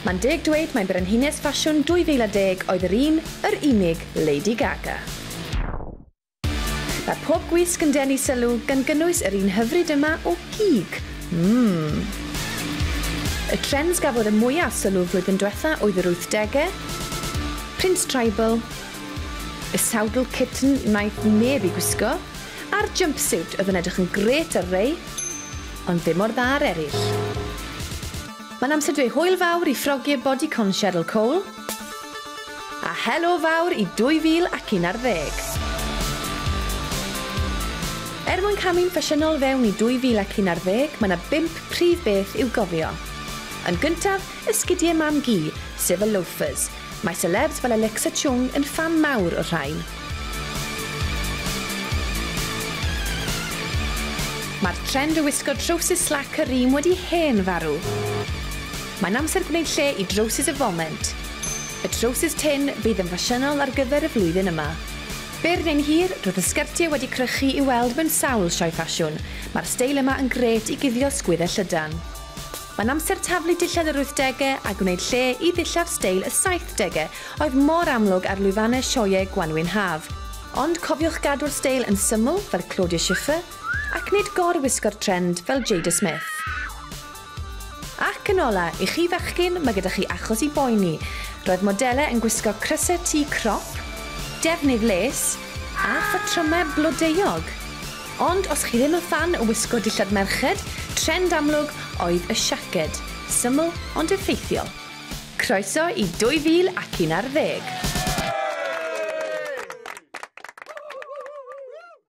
Mae'n deg dweud mai Brenhines Ffasiwn 2010 oedd yr un, yr unig, Lady Gaga. Mae pob gwisg yn denu sylw, gan gynnwys yr un hyfryd yma o gig. Mmm. Y trends gafodd y mwyaf sylw flwyddyn dwetha oedd yr wythdegau, Prince Tribal, y sawdl kitten wnaeth neb i gwisgo, a'r jumpsuit oedd yn edrych yn grêt ar rei. ond ddim mor dda â'r eraill. Mae'n amser dweud hwyl fawr i ffrogiau Bodycon Cheryl Cole, a helo fawr i 2011! Er mwyn camu'n ffasiynol fewn i 2011, mae 'na bump prif beth i'w gofio. Yn gyntaf, esgidiau mam-gu, sef y loafers, Mae selebs fel Alexa Chung yn ffan mawr o'r rhain. Mae'r trend o wisgo trowsus slac a rîm wedi hen farw. Mae'n amser gwneud lle i drowsus y foment. Y trowsus tynn fydd yn ffasiynol ar gyfer y flwyddyn yma. Byr neu'n hir, roedd y sgertiau wedi crychu i'w weld mewn sawl sioe ffasiwn. Mae'r steil yma yn grêt i guddio sgwydde llydan. Mae'n amser taflu dillad yr wythdegau a gwneud lle i ddillad steil y saithdegau oedd mor amlwg ar lwyfannau sioeau gwanwyn haf. Ond cofiwch gadw'r steil yn syml fel Claudia Schiffer ac nid gor-wisgo'r trend fel Jada Smith. Ac yn ola', i chi fechgyn, mae gyda chi achos i boeni. Roedd modelau yn gwisgo crysau T crop, defnydd les, a phatrymau blodeuog. Ond os chi ddim yn ffan o wisgo dillad merched, trend amlwg oedd y siaced. Syml ond effeithiol. Croeso i 2011!